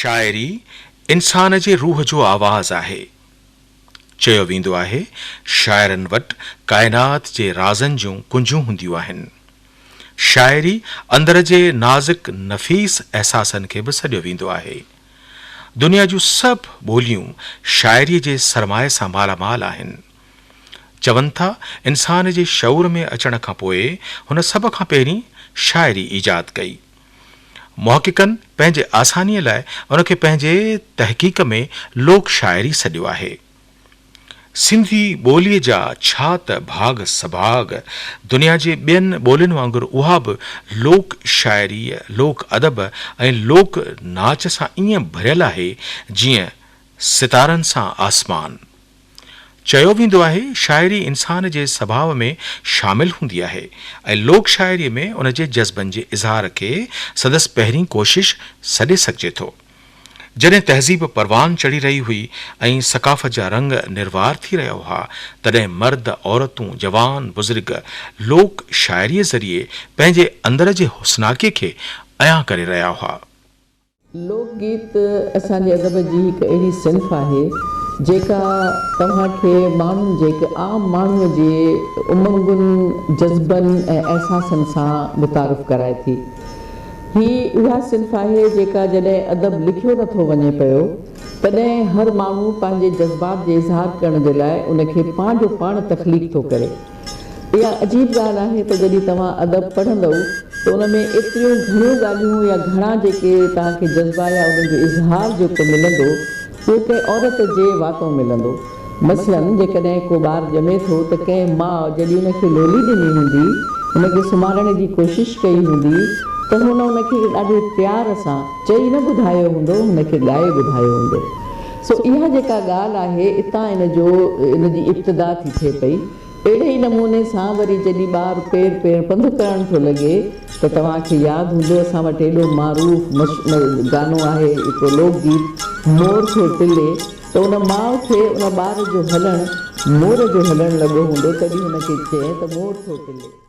شاعري انسان جي روح جو آواز آهي. چيو ويندو آهي شاعرن وٽ ڪائنات جي رازن جون ڪنجون هونديون آهن. شاعري اندر جي نازڪ نفيس احساسن کي به سڏيو ويندو آهي. دنيا جون سڀ ٻوليون شاعريء جي سرمايي سان مالا مال آهن. چون ٿا انسان جي شعور ۾ اچڻ کان پوء هن سڀ کان پهرين شاعري ايجاد ڪئي. محققن پنهنجي آسانيء لاء ان کي پنهنجي تحقيق ۾ لوڪ شاعري سڏيو آهي. سنڌي ٻوليء جا ڇا ته ڀاڳ سڀاڳ، دنيا جي ٻين ٻولين وانگر اها به لوڪ شاعريء، لوڪ ادب ۽ لوڪ ناچ سان ائين ڀريل آهي، جيئن ستارن سان آسمان. چيو ويندو آهي، شاعري انسان جي سڀاء ۾ شامل هوندي آهي ۽ لوڪ شاعريء ۾ ان جي جذبن جي اظهار کي سندس پهرين ڪوشش سڏي سگهجي ٿو. جڏهن تهذيب پروان چڙهي رهي هئي ۽ ثقافت جا رنگ نروار ٿي رهيا هئا، تڏهن مرد، عورتون، جوان، بزرگ لوڪ شاعريء ذريعي پنهنجي اندر جي حسناڪي کي عيان ڪري رهيا هئا. لوڪ گيت اسان جي ادب جي هڪ اهڙي صنف آهي، جيڪا توهان کي ماڻهن جي هڪ عام ماڻهوء جي امنگن، جذبن ۽ احساسن سان متعارف ڪرائي ٿي. هي اها صنف آهي جيڪا جڏهن ادب لکيو نه ٿو وڃي پيو تڏهن هر ماڻهو پنهنجي جذبات جي اظهار ڪرڻ جي لاء ان کي پنهنجو پاڻ تخليق ٿو ڪري. اها عجيب ڳالهه آهي ته جڏهن توهان ادب پڙهندؤ ته ان ۾ ايتريون گهڻيون ڳالهيون يا گهڻا جيڪي توهان کي جذبا يا انهن جو اظهار جيڪو ملندو اهو ڪنهن عورت جي واتو ملندو. مثلاً جيڪڏهن ڪو ٻار ڄمي ٿو ته ڪنهن ماء جڏهن ان کي لولي ڏني هوندي، ان کي سمهارڻ جي ڪوشش ڪئي هوندي ته هن ان کي ڏاڍي پيار سان چئي نه ٻڌايو هوندو، هن کي ڳائي ٻڌايو هوندو. سو اها جيڪا ڳالهه آهي اتان ان جو ان جي ابتدا ٿي ٿئي پئي. اهڙي ئي نموني سان وري جڏهن ٻار پير پير پنڌ ڪرڻ ٿو لڳي ته توهان کي ياد هوندو اسان وٽ ايڏو معروف گانو آهي هڪڙو لوڪ گيت مور ٿئي تلي ته ان ماء کي ان ٻار جو هلڻ مور جو هلڻ لڳو هوندو تڏهن هن کي چئين ته مور ٿو تلي.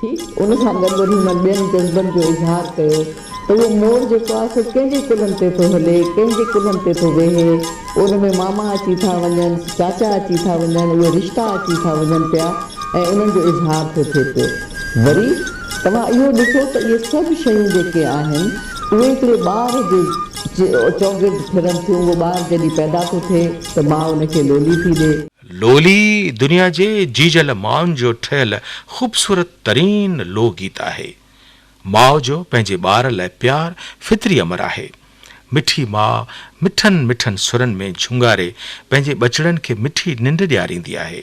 ٿي، ان سان گڏ وري هن ٻين جذبن جو اظهار ڪيو ته اهو مور جيڪو آهي سو ڪنهن جي ڪلهن تي ٿو هلي، ڪنهن جي ڪلهن تي ٿو ويهي، ان ۾ ماما اچي ٿا وڃن، چاچا اچي ٿا وڃن، اهي رشتا اچي ٿا وڃن پيا ۽ انهن جو اظهار ٿو ٿئي پيو. وري توهان اهو ڏسو ته اهي سڀ شيون جيڪي آهن اهي هڪڙي ٻار جي چوگرد ڦرن ٿيون، اهو ٻار جڏهن پيدا ٿو ٿئي ته ماء ان کي لولي ٿي ڏي، لولي دنيا جي جيجل ماين جو ٺهيل خوبصورت ترين لو گيت آهي. ماء جو پنهنجي ٻار لاء پيار فطري امر آهي. مٺي ماء مٺن مٺن سرن ۾ جهونگاري پنهنجي ٻچڙن کي مٺي ننڊ ڏياريندي آهي.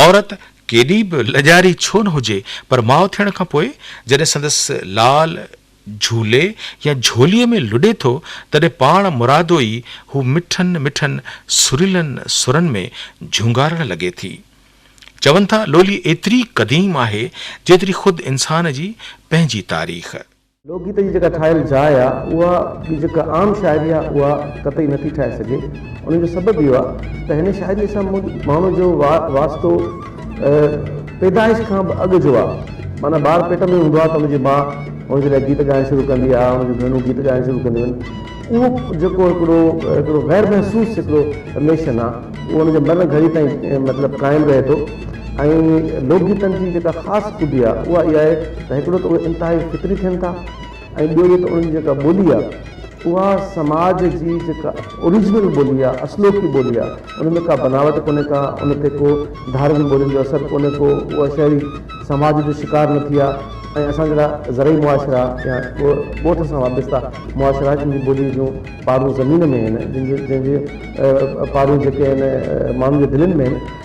عورت ڪيڏي به لڄاري ڇو نه هجي پر ماء ٿيڻ کان پوء جڏهن سندس لال، جھولي يا جھوليء ۾ لڏي ٿو، تڏھن پاڻ مرادو ئي ھو مٺن مٺن سريلن سرن ۾ جھونگارڻ لڳي ٿي. چون ٿا لولي ايتري قديم آھي، جيتري خود انسان جي پنھنجي تاريخ. لوڪ گيت جي جيڪا ٺاھيل جاء آ، اها ٻي جيڪا عام شاعري آ، اها قطعي نٿي ٺاھي سگھي. ان جو سبب اهو آ ته هن شاعريء سان مون ماڻهو جو واسطو اهي پيدائش کان به اڳ جو آ. معنيٰ ٻار پيٽ ۾ هوندو آ ته ان جي ماء هن جي لاء گيت ڳائڻ شروع ڪندي آ، هن جون ڀيڻون گيت ڳائڻ شروع ڪنديون آهن. اهو جيڪو هڪڙو هڪڙو غير محسوس هڪڙو رليشن آ، اهو ان جي مرڻ گهڙي تائين مطلب قائم رهي ٿو ۽ لوڪ گيتن جي جيڪا خاص خوبي آ، اها اها آهي ته هڪڙو ته اهي انتهائي فطري ٿين ٿا، ۽ ٻيو جيڪا انهن جي جيڪا ٻولي آهي اها سماج جي جيڪا اوريجنل ٻولي آهي اصلوڪي ٻولي آهي ان ۾ ڪا بناوٽ ڪونهي ڪا ان تي ڪو ڌارين ٻولين جو اثر ڪونهي ڪو اها شهري سماج جو شڪار نه ٿي آهي ۽ اسان جهڙا زرعي معاشرا يا ڳوٺ سان وابسته معاشرا جن جي ٻولي جون پارون زمين ۾ آهن جن جي جن جي پارون جيڪي آهن ماڻهن جي دلين ۾ آهن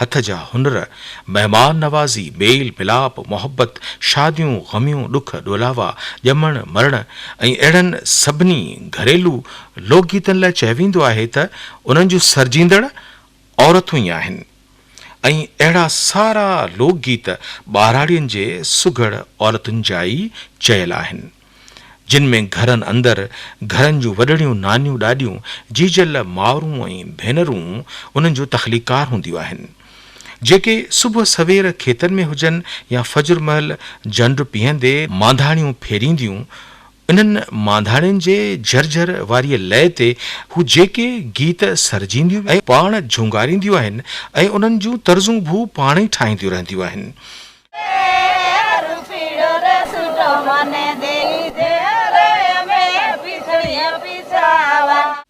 هٿ جا هنر، مهمان نوازي، ميل ملاپ، محبت، شاديون، غميون، ڏک ڏولاوا، ڄمڻ مرڻ ۽ اهڙن سڀني گهريلو لوڪ گيتن لاء چيو ويندو آهي ته انهن جون سرجيندڙ عورتون ئي آهن ۽ اهڙا سارا لوڪ گيت ٻهراڙين جي سگهڙ عورتن جا ئي چيل آهن. جن ۾ گهرن اندر گهرن جون وڏڙيون نانيون ڏاڏيون جيجل مائرون ۽ ڀينرون انهن جون تخليقڪار هونديون آهن جيڪي صبح سوير کيتن ۾ هجن يا فجر مهل جنڊ پيهندي مانڌاڻيون ڦيرينديون انهن مانڌاڻين جي جهرجهر واريء لئي تي هو جيڪي گيت سرجينديون ۽ پاڻ جهونگارينديون آهن ۽ انهن جون طرزون به هو پاڻ ئي ٺاهينديون رهنديون آهن.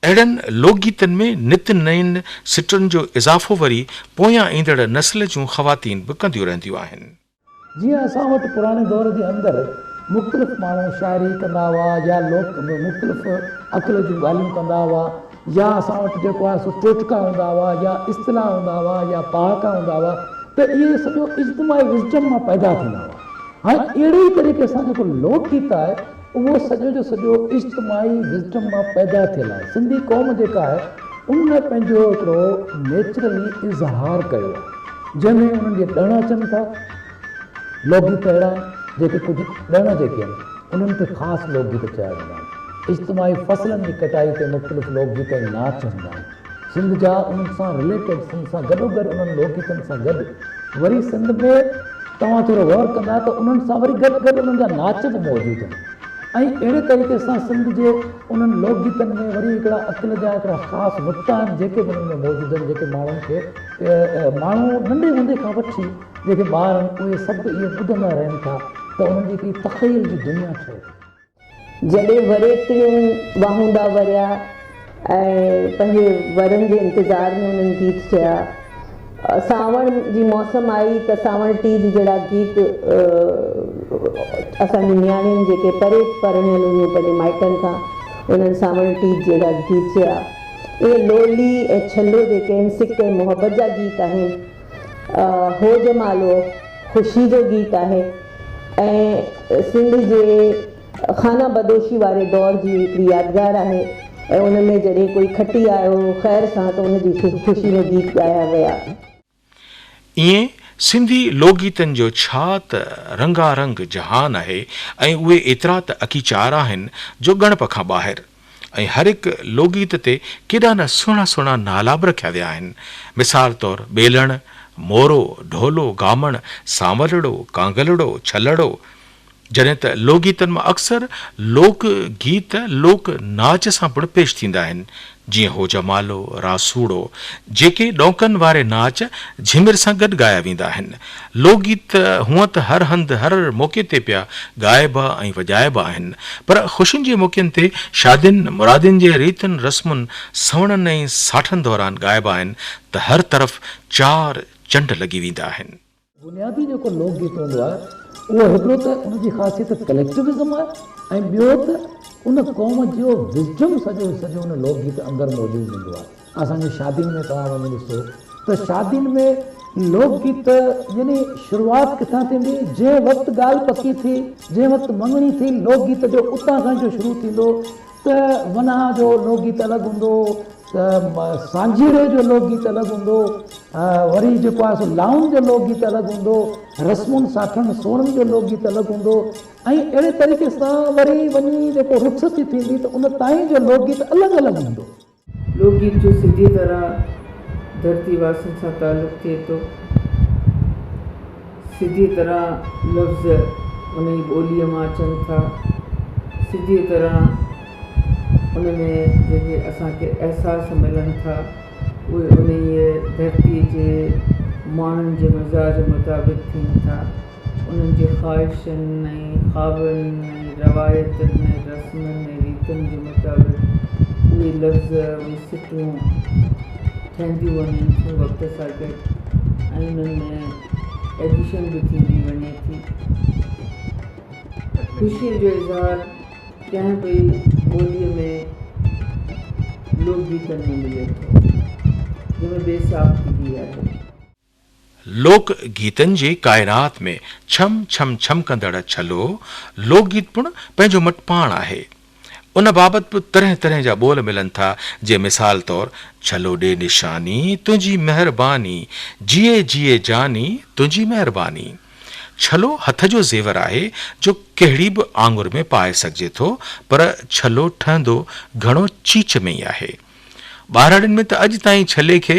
اهڙن لوڪ گيتن ۾ نت نئين سٽن جو اضافو وري پويان ايندڙ نسل جون خواتين به ڪنديون رهنديون آهن. جيئن اسان وٽ پراڻي دور جي اندر مختلف ماڻهو شاعري ڪندا هئا يا لوڪ به مختلف عقل جون ڳالهيون ڪندا هئا. يا اسان وٽ جيڪو آهي سو ٽوٽڪا هوندا هئا يا اصطلاح هوندا هئا يا پهاڪا هوندا هئا ته اهي سڄو اجتماعي وزڊم مان پيدا ٿيندا هئا. هاڻي اهڙي ئي طريقي سان جيڪو لوڪ گيت آهي اهو سڄو جو سڄو اجتماعي وزڊم مان پيدا ٿيل آهي. سنڌي قوم جيڪا آهي ان پنهنجو هڪڙو نيچرلي اظهار ڪيو آهي جنهن ۾ انهن جي ڏڻ اچن ٿا. لوڪ گيت اهڙا آهن جيڪي ڪجهه ڏڻ جيڪي آهن انهن کي خاص لوڪ گيت چيا ويندا آهن. اجتماعي فصلن جي ڪٽائي تي مختلف لوڪ گيت ۽ ناچ هوندا آهن. سنڌ جا انهن سان رليٽيڊ سنڌ سان گڏوگڏ انهن لوڪ گيتن سان گڏ وري سنڌ ۾ توهان ٿورو غور ڪندا ته انهن سان وري گڏ گڏ انهن جا ناچ به موجود آهن ۽ اهڙي طريقي سان سنڌ جي انهن لوڪ گيتن ۾ وري هڪڙا عقل جا هڪڙا خاص نقطا آهن جيڪي به انهن ۾ موجود آهن جيڪي ماڻهن کي ماڻهو ننڍي هوندي کان وٺي جيڪي ٻار آهن اهي سڀ اهو ٻڌندا رهن ٿا ته انهن جي هڪڙي تخيل جي دنيا ٺهي. جڏهن وري ٽڙيون واهوندا وريا ۽ پنهنجي ورن جي انتظار ۾ انهن گيت چيا. سانوڻ جي موسم آئي ته سانوڻ ٽيج جهڙا گيت اسان جون نياڻين جيڪي پري پرڻيل هيون پنهنجي مائٽن کان انهن سانوڻ ٽيج جهڙا گيت چيا. اهي لولي ۽ ڇلو جيڪي آهن سڪ ۽ محبت جا گيت آهن. هو جمالو خوشي جو گيت آهي ۽ سنڌ جي خانه بدوشي واري دور جي هڪڙي يادگار آهي ۽ ان ۾ جڏهن ڪوئي کٽي آيو خير سان ته ان جي خوشي ۾ گيت ڳايا ويا. ائين سنڌي لوڪ گيتن جو ڇا ته رنگا رنگ جهان آهي ۽ اهي ايترا ته اڪيچار آهن جو ڳڻپ کان ٻاهر. ۽ هر هڪ لوڳيت تي ڪيڏا نه سهڻا سهڻا نالا به رکيا ويا آهن. مثال طور ٻيلڻ، مورو، ڍولو، گامڻ، سانولڙو، ڪانگلڙو، ڇلڙو. جڏهن ته لوڳيتن مان اڪثر لوڪ گيت لوڪ ناچ سان پڻ پيش ٿيندا آهن، جيئن هوجمالو، راسوڙو، جيڪي ڏونڪن واري ناچ جهمر سان گڏ ڳايا ويندا آهن. لوڪ گيت هونئن ته هر هنڌ هر موقعي تي پيا ڳائبا ۽ وڄائبا آهن پر خوشين جي موقعن تي شادين مرادين جي ريتن رسمن سوڻن ۽ ساٺن دوران ڳائبا آهن ته هر طرف چار چنڊ لڳي ويندا آهن. بنيادي جيڪو لوڪ گيت هوندو آهي اهو هڪڙو ته ان جي خاصيت ڪليڪٽوازم آهي ۽ ٻيو ته ان قوم جو وزڊم سڄو جو سڄو ان لوڪ گيت اندر موجود هوندو آهي. اسان جي شادين ۾ توهان وڃي ڏسو ته شادين ۾ لوڪ گيت يعني شروعات ڪٿان ٿيندي جنهن وقت ڳالهه پڪي ٿي جنهن وقت مڱڻي ٿي لوڪ گيت جو اتان کان جو شروع ٿيندو ته ونهان جو لوڪ گيت الڳ هوندو ته سانجهيڙي جو لوڪ گيت الڳ هوندو وري جيڪو آهي سو لائون جو لوڪ گيت الڳ هوندو رسمن ساٺن سوڙن جو لوڪ گيت الڳ هوندو ۽ اهڙي طريقي سان وري وڃي جيڪو رٿ ٿي ٿيندي ته ان تائين جو لوڪ گيت الڳ الڳ هوندو لوڪ گيت جو سڌي طرح ڌرتي واسين سان تعلق ٿئي ٿو. سڌيء طرح لفظ انهيء ٻوليء مان اچن ٿا. سڌيء طرح ان ۾ جيڪي اسان کي احساس ملن ٿا، اهي انهيء ڌرتيء جي ماڻهن جي مزاج مطابق ٿين ٿا. انهن جي خواهشن ۽ خوابن ۽ روايتن ۽ رسمن ۽ ريتن جي مطابق اهي لفظ ۽ سٽون ٺهنديون وڃن ٿيون وقت سان گڏ ۽ انهن ۾ ايڊيشن به ٿيندي وڃي ٿي. خوشي جو اظهار ڪنهن به ٻوليء ۾ لوڪ گيتن ۾ ملي ٿو جنهن ۾ بيساختگي آهي. لوڪ گيتن جي ڪائنات ۾ ڇم ڇم ڇمڪندڙ ڇلو لوڪ گيت پڻ پنهنجو مٽ پاڻ آهي. ان بابت به طرح طرح جا ٻول ملن ٿا جي مثال طور ڇلو ڏي نشاني تنهنجي مهرباني جيئي جيئي جاني تنهنجي مهرباني. ڇلو هٿ جو زيور آهي جو ڪهڙي به آڱر ۾ پائي سگهجي ٿو پر ڇلو ٺهندو گهڻو چيچ ۾ ئي آهي. ٻهراڙين ۾ ته اڄ تائين ڇلي کي.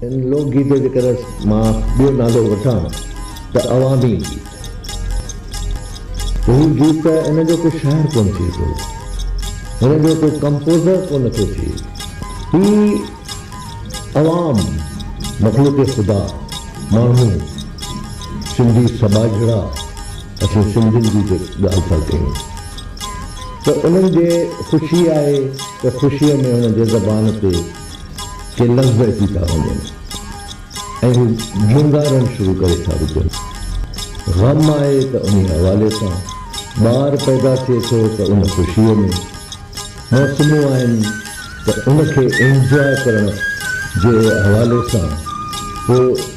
هن لوڪ گيت جو جيڪڏهن مان ٻيو نالو وٺان ته عوامي گيت. هي گيت ته ان جو ڪو شاعر ڪونه ٿئي ٿو. هن جو ڪو ڪمپوزر ڪونه ٿو ٿئي. هي عوام، مخلوق خدا، ماڻهو، سنڌي سٻاجهڙا اسين سنڌين جي جي ڳالهه ٿا ڪيون ته انهن جي خوشي آهي ته خوشيء ۾ انهن جي زبان تي کي لفظ اچي ٿا وڃن ۽ هو جهونگارڻ شروع ڪري ٿا وجهن. غم آهي ته انهي حوالي سان ٻار پيدا ٿئي ٿو ته ان خوشيء ۾، موسمون آهن ته ان کي انجواء ڪرڻ جي حوالي سان پوء،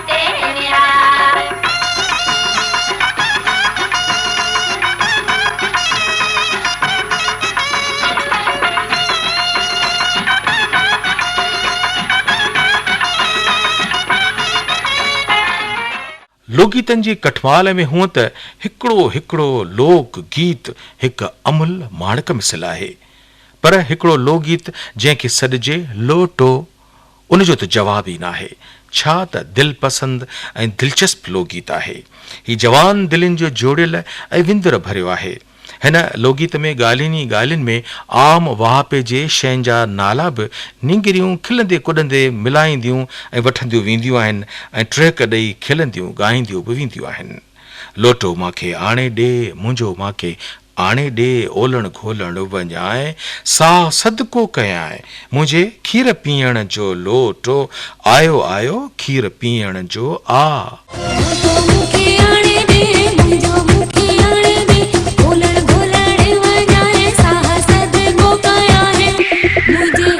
لوڪگيتن جي ڪٺمال ۾ هونئن ته هڪڙو هڪڙو لوڪ گيت هڪ املهه ماڻڪ مثل آهي، پر هڪڙو لوڪگيت جنهن کي سڏجي لوٽو، ان جو ته جواب ئي ناهي. ڇا ته دل پسند ۽ دلچسپ لوڳيت آهي. هي جوان دلين جو جوڙيل ۽ وندر ڀريو آهي. هن لوڳيت ۾ ڳالهين ئي ڳالهين ۾ عام واهپي جي شين جا نالا به نينگريون کلندي ڪڏندي ملائينديون ۽ وٺنديون وينديون آهن ۽ ٽهڪ ڏئي کلنديون ڳائينديون به وينديون آهن. لوٽو مان کي آڻي ڏي، منهنجو مان کي آڻي ڏي، اولڻ گهولڻ وڃانء، ساهه صدقو ڪيانء، منهنجي کير پيئڻ جو لوٽو، آيو آيو کير پيئڻ جو آ. لوٽو مون کي آڻي ڏي، منهنجو مون کي آڻي ڏي، اولڻ گهولڻ وڃانء، ساهه صدقو ڪيانء، منهنجي.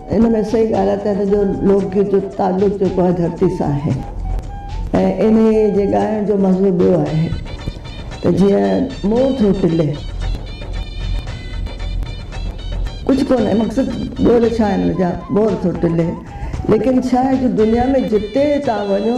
ان ۾ سائين ڳالهائي ته هن جو لوڪ گيت جو تعلق جيڪو آهي ڌرتي سان آهي ۽ انهيء جي ڳائڻ جو مزو ٻيو آهي ته جيئن مور ٿو کلي. ڪجهه ڪونهي مقصد ٻول ڇا آهن ان جا مور ٿو ٽلي ليڪن ڇا آهي جو دنيا ۾ جتي تان وڃو.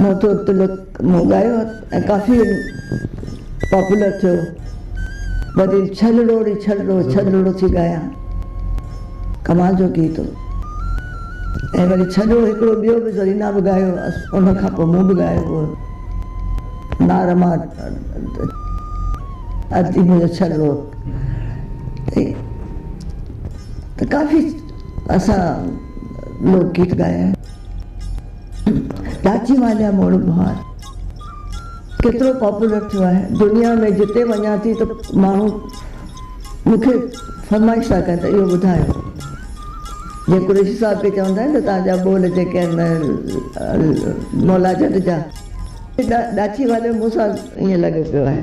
مون تي تلڪ مون ڳايو ۽ ڪافي پاپولر ٿيو وري ڇلڙو ڙي ڇلڙو ڇلڙو ٿي ڳايان ڪمال جو گيت هو ۽ وري ڇلڙو هڪڙو ٻيو به زرينا به ڳايو هئس ان کان پوء مون به ڳايو هو نار مار ادي منهنجو ڇلڙو ته ڪافي اسان لوڪ گيت ڳايا آهن ڏاچي واليا موڙ مهار ڪيترو پاپولر ٿيو آهي دنيا ۾ جتي وڃان ٿي ته ماڻهو مون کي فرمائش ٿا ڪن ته اهو ٻڌايو جيئن قريشي صاحب کي چوندا آهن ته تهان جا ٻول جيڪي آهن مولا جٽ جا ڏاچي واليو مون سان ائين لڳو پيو آهي.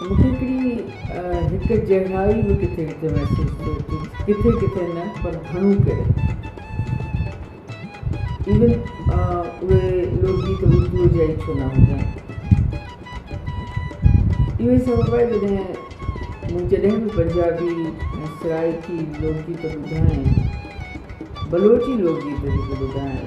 مون کي هڪڙي هڪ جهڙائي به ڪٿي ڪٿي محسوس ٿئي ٿي ڪٿي ڪٿي نه پر گهڻو ڪري ايون اهي لوڪ گيت اردوء جا ئي ڇو نه هجن اهو ئي سبب آهي جڏهن مون جڏهن به پنجابي ۽ سرائيڪي لوڪ گيت ٻڌا آهن بلوچي لوڪ گيت جيڪي ٻڌا آهن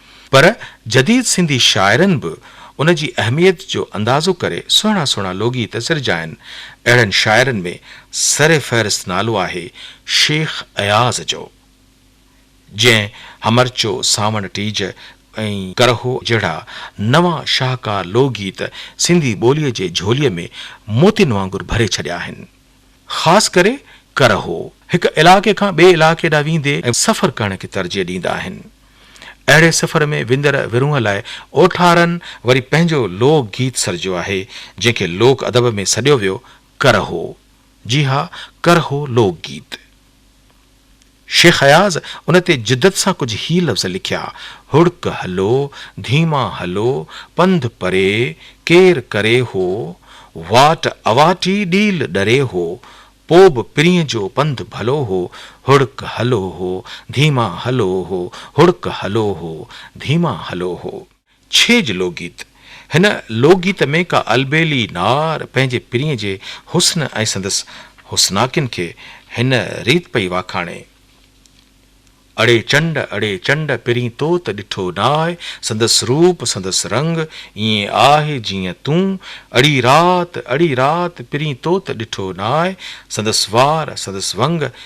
پر جديد سنڌي شاعرن به ان جي اهميت جو اندازو ڪري سهڻا سهڻا لوڳيت سرجيا آهن. اهڙن شاعرن ۾ سر فهرست نالو آهي شيخ اياز جو، جنهن همرچو، سانوڻ ٽيج ۽ ڪرهو جهڙا نوان شاهڪار لوڳيت سنڌي ٻوليء جي جهوليء ۾ موتين وانگر ڀري ڇڏيا آهن. خاص ڪري ڪرهو هڪ علائقي کان ٻئي علائقي ڏانهن ويندي ۽ سفر ڪرڻ کي ترجيح ڏيندا آهن. اهڙي سفر ۾ ويندڙ ورونهه لاء اوٺارن وري پنهنجو لوڪ گيت سرجيو آهي، جنهن کي لوڪ ادب ۾ سڏيو ويو ڪرهو. جي ها، ڪرهو لوڪ گيت. شيخ اياز ان تي جدت سان ڪجهه هي لفظ لکيا، هڙڪ هلو، ڌيما هلو، پنڌ پري، ڪير ڪري هو، واٽ اواٽي ڏيل ڏري هو، پو به پرينء جو پنڌ ڀلو هو، هڙڪ هلو هو، ڌيما هلو هو، هڙڪ هلو هو، ڌيما هلو هو. ڇيڄ لوڪگيت، هن لوڪگيت ۾ ڪا البيلي نار پنهنجي پرينء جي حسن ۽ سندس حسناڪين کي هن ريت پئي واکاڻي، اڙي چنڊ اڙي چنڊ پرين تو ته ڏٺو ناهه، سندس روپ سندس رنگ ائين آهه جيئن تون، اڙي رات اڙي رات پرين تو ته ڏٺو ناهه، سندس وار سندس ونگ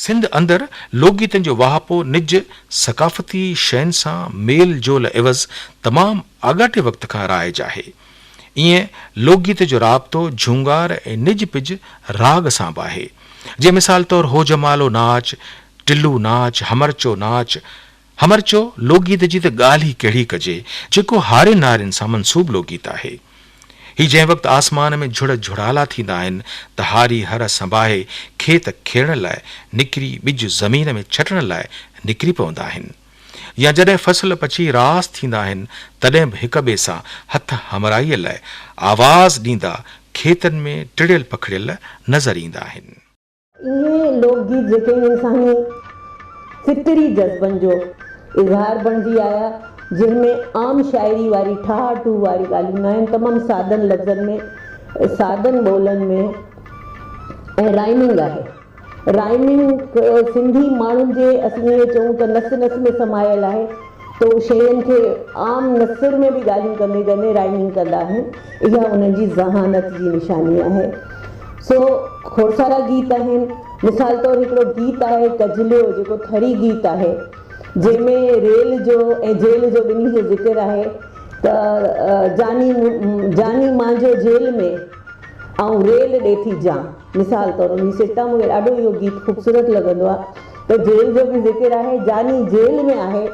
سنڌ اندر لوڪ گيتن جو واهپو نج ثقافتي شين سان ميل جول عيوض تمام آڳاٽي وقت کان رائج آهي. ايئن لوڪ گيت جو رابطو جهونگار ۽ نج پج راڳ سان به آهي. جيئن مثال طور هو جمالو ناچ، ٽلو ناچ، همرچو ناچ، همر چيو، لوڪگيت جي ته ڳالهه ئي ڪهڙي ڪجي، جيڪو هارين نارين سان منسوب لوڪگيت آهي. هي جنهن وقت آسمان ۾ جهڙ جهڙالا ٿيندا آهن ته هاري هر سنباهي کيت کيڙڻ لاء نڪري ٻج زمين ۾ ڇٽڻ لاء نڪري پوندا آهن يا جڏهن فصل پچي راس ٿيندا آهن تڏهن به هڪ ٻئي سان هٿ همراهيء لاء آواز ڏيندا کيتن ۾ ٽڙيل پکڙيل نظر ايندا آهن. اهي لوڪ گيت جيڪي انساني فطري جذبن جو اظهار بڻجي آيا جنهن ۾ عام شاعري واري ٺاهه ٺوهه واري ڳالهيون نه آهن تمام سادن لفظن ۾ سادن ٻولن ۾ ۽ رائمنگ آهي رائمنگ سنڌي ماڻهن جي اسين ائين چئون ته نس نس ۾ سمايل آهي ته هو شينهن کي عام نثر ۾ به ڳالهيون ڪندي ڪندي رائمنگ ڪندا آهن، اها انهن جي ذهانت جي نشاني آهي. سو کوڙسارا گيت آهن، مثال طور هڪڙو گيت آهي ڪجليو جيڪو ٿري گيت آهي، جنهن ۾ ريل جو ۽ جيل جو ٻنهي جو ذڪر آهي ته جاني جاني مانجو جيل ۾ آئون ريل ڏي ٿي جان مثال طور ان جي سٽا مون کي ڏاڍو اهو گيت خوبصورت لڳندو آهي. ته جيل جو به ذڪر آهي جاني جيل ۾ آهي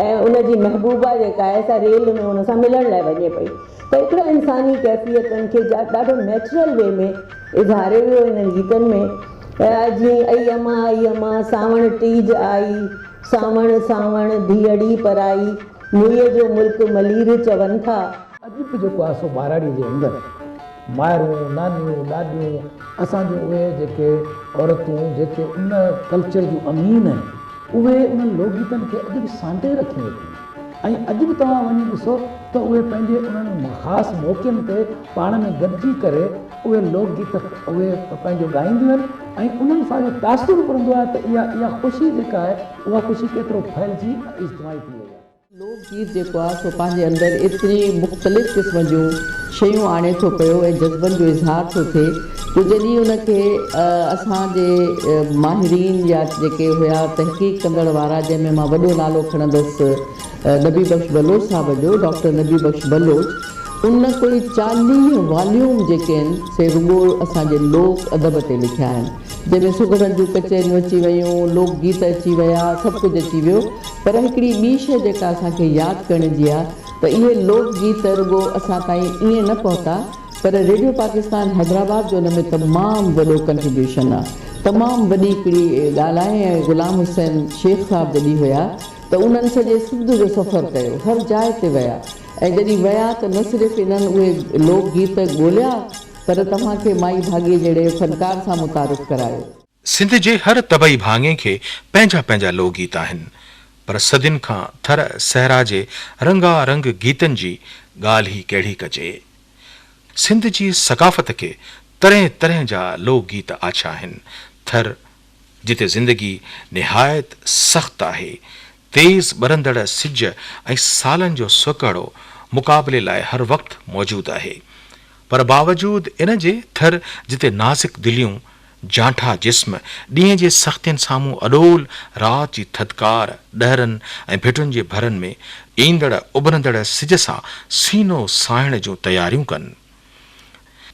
۽ ان جي محبوبا جيڪا آهي سا ريل ۾ ان سان ملڻ لاء وڃي پئي ته اڪڙن انساني ڪيفيتن کي ڏاڍو نيچرل وي ۾ اظهاريو ويو انهن گيتن ۾ جيئن اي اما اي اما سانوڻ ٽيج آئي سانوڻ سانوڻ ڌيئڙي پرائي موئي جو ملڪ ملير چون ٿا. اديب جيڪو آهي سو ٻاراڙي جي اندر. مائرون، نانيون، ڏاڏيون، اسان جون اهي جيڪي عورتون جيڪي ان ڪلچر جون امين آهن اهي انهن لوڪ گيتن کي اڄ به سانڍي رکيون ويٺيون آهن ۽ اڄ به توهان وڃي ڏسو ته اهي پنهنجي انهن خاص موقعن تي پاڻ ۾ گڏجي ڪري اهي لوڪ گيت اهي پنهنجو ڳائينديون آهن ۽ انهن سان اهو تاثر به پوندو آهي ته اها اها خوشي جيڪا آهي اها خوشي ڪيترو ڦهلجي ۽ اجتماعي ٿي وئي آهي. لوڪ گيت جيڪو آهي سو پنهنجي اندر ايتري مختلف قسم جون شيون آڻي ٿو پيو ۽ جذبن جو اظهار ٿو ٿئي جو جڏهن ان کي اسان جي ماهرين يا جيڪي هيا تحقيق ڪندڙ وارا جنهن ۾ مان وڏو نالو کڻندس نبي بخش بلوچ صاحب جو ڊاڪٽر نبي بخش بلوچ ان ڪوئي چاليهه واليوم جيڪي آهن سي رڳو اسان جي لوڪ ادب تي لکيا آهن. جنهن ۾ سگهڙن جون ڪچهريون اچي ويون، لوڪ گيت اچي ويا، سڀ ڪجهه اچي ويو پر هڪڙي ٻي شيء جيڪا اسان کي ياد ڪرڻ جي آ ته اهي لوڪ گيت رڳو اسان تائين ائين نه پهتا پر ريڊيو پاڪستان حيدرآباد جو ان ۾ تمام وڏو ڪنٽريبيوشن آ تمام وڏي هڪڙي ڳالهه آهي ۽ غلام حسين شيخ صاحب جڏهن هيا ته انهن سڄي سنڌ جو سفر ڪيو هر جاء تي ويا ۽ جڏهن ويا ته نه صرف انهن اهي لوڪ گيت ڳوليا سر توهان کي مائي ڀاڳي جهڙي فنڪار سان متعارف ڪرايو. سنڌ جي هر طبعي ڀاڱي کي پنهنجا پنهنجا لوڪ گيت آهن پر صدين کان ٿر صحرا جي رنگا رنگ گيتن جي ڳالهه ئي ڪهڙي ڪجي. سنڌ جي ثقافت کي طرحين طرحين جا لوڪ گيت آڇا آهن. ٿر جتي زندگي نهايت سخت آهي، تيز ٻرندڙ سج ۽ سالن جو سوڪهڙو مقابلي لاء هر وقت موجود آهي پر باوجود ان جي ٿر جتي نازڪ دليون، جانٺا جسم ڏينهن جي سختين سامهون اڏول، رات جي ٿڌڪار، ڏهرن ۽ ڀٽن جي ڀرن ۾ ايندڙ اڀرندڙ سج سان سينو ساهڻ جون تياريون ڪن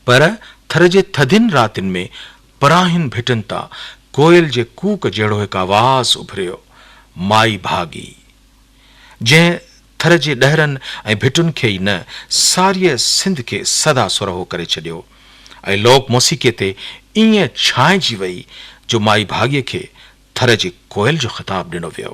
پر ٿر جي ٿڌين راتين ۾ پراهين ڀٽن تان ڪوئل جي ڪوڪ جهڙو هڪ آواز اڀريو، مائي ڀاڳي! جنهن ٿر جي ڏهرن ۽ ڀٽن کي ئي نه، ساريء سنڌ کي سدا سرهو ڪري ڇڏيو ۽ لوڪ موسيقيء تي ائين ڇانئجي ويئي، جو مائي ڀاڳيء کي ٿر جي ڪوئل جو خطاب ڏنو ويو.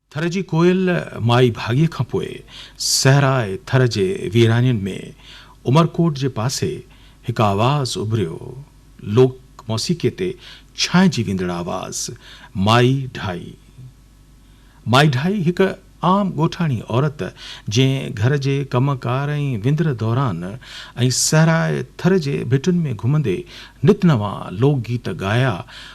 ٿر جي ڪوئل مائي ڀاڳي کان پوء صحراء ٿر جي ويرانين ۾ عمرڪوٽ جي پاسي هڪ آواز اڀريو، لوڪ موسيقي تي ڇانئجي ويندڙ آواز، مائي ڍائي. مائي ڍائي هڪ عام ڳوٺاڻي عورت جنهن گهر جي ڪم ڪار ۽ وندر دوران ۽ صحراء ٿر جي ڀٽن ۾ گهمندي نت نوان لوڪ گيت ڳايا،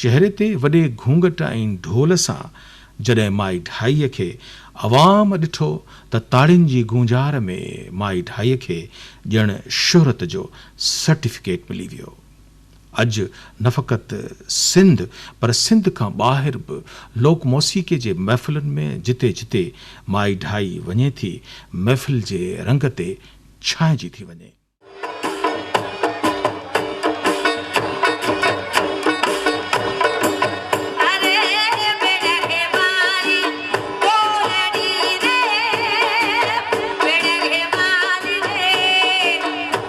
چهري تي وڏي گهونگهٽ ۽ ڍول سان جڏهن مائي ڍائي کي عوام ڏٺو ته تاڙين جي گونجار ۾ مائي ڍائي کي ڄڻ شهرت جو سرٽيفڪيٽ ملي ويو. اڄ نه فقط سنڌ پر سنڌ کان ٻاهر به لوڪ موسيقي جي محفلن ۾ جتي جتي مائي ڊائي وڃي ٿي محفل جي رنگ تي ڇانئجي ٿي وڃي.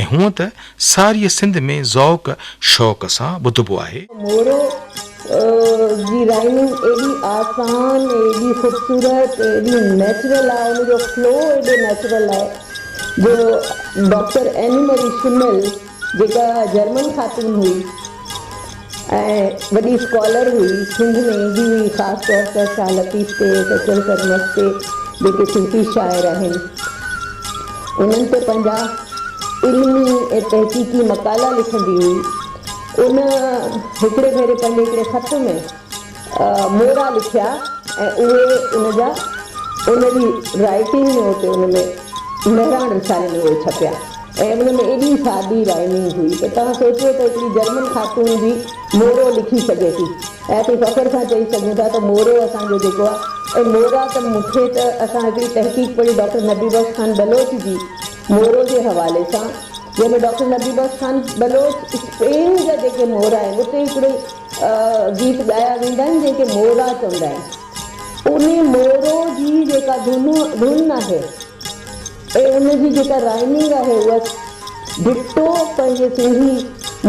۽ هونء ته ساريء سنڌ ۾ ذوق شوق سان ٻڌبو آهي. مورو جي رائمنگ ايڏي آسان ۽ ايڏي خوبصورت ۽ ايڏي نيچرل آهي ان جو فلو ايڏو نيچرل آهي جو ڊاڪٽر ايني مري شميل جيڪا جرمن خاتون هئي. ۽ وڏي اسڪالر هئي، سنڌ ۾ ايندي هئي، خاص طور ته شاهه لطيف تي، سچل سرمست تي، جيڪي صوفي شاعر آهن، انهن تي پنهنجا علمي ۽ تحقيقي مقالا لکندي هئي، ان هڪڙي ڀيري پنهنجي هڪڙي خط ۾. مورا لکيا ۽ اهي ان جا ان جي رائيٽنگ ۾ اتي ان ۾ مهراڻ رسالي ۾ اهي ڇپيا ۽ ان ۾ ايڏي سادي رائمنگ هئي ته توهان سوچيو ته هڪڙي جرمن خاتون به مورو لکي سگهي ٿي ۽ اسين فخر سان چئي سگهون ٿا ته مورو اسان جو جيڪو آهي ۽ مورا ته مون کي ته اسان هڪڙي تحقيق پڙهي ڊاڪٽر نبي بخش خان بلوچ جي مورو جي حوالي سان جنهن ۾ ڊاڪٽر نبي بخش خان بلوچ اسپين جا جيڪي مورا آهن اتي هڪڙي گيت ڳايا ويندا آهن جنهن کي مورا چوندا آهن انهي مورو جي جيڪا ڌن آهي ۽ ان جي جيڪا رائمنگ آهي اها ڊٽو پنهنجي سنڌي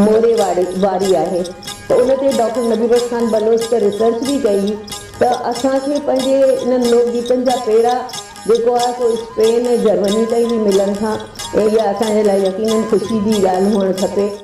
موري واري آهي ته ان تي ڊاڪٽر نبي بخش خان بلوچ ته ريسرچ به ڪئي هئي ته اسان کي پنهنجي انهن لوڪ گيتن جا پيڙا جيڪو آهي سو اسپين ۽ جرمني تائين به ملن ٿا ۽ اها اسان جي لاء يقينن خوشي جي ڳالهه هئڻ کپي.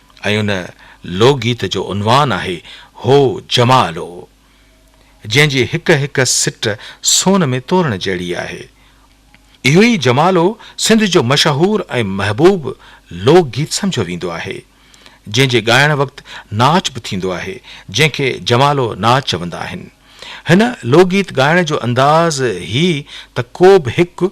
۽ ان لوڪ گيت جو عنوان آهي هو جمالو جنهن جي هڪ هڪ سٽ سون ۾ تورڻ جهڙي آهي. اهو ئي جمالو سنڌ جو مشهور ۽ محبوب لوڪ گيت سمجهيو ويندو آهي جنهن جي ڳائڻ وقت ناچ به ٿيندو آهي جنهن کي جمالو ناچ چوندا آهن. هن لوڪ گيت ڳائڻ جو انداز هي ته ڪو به هڪ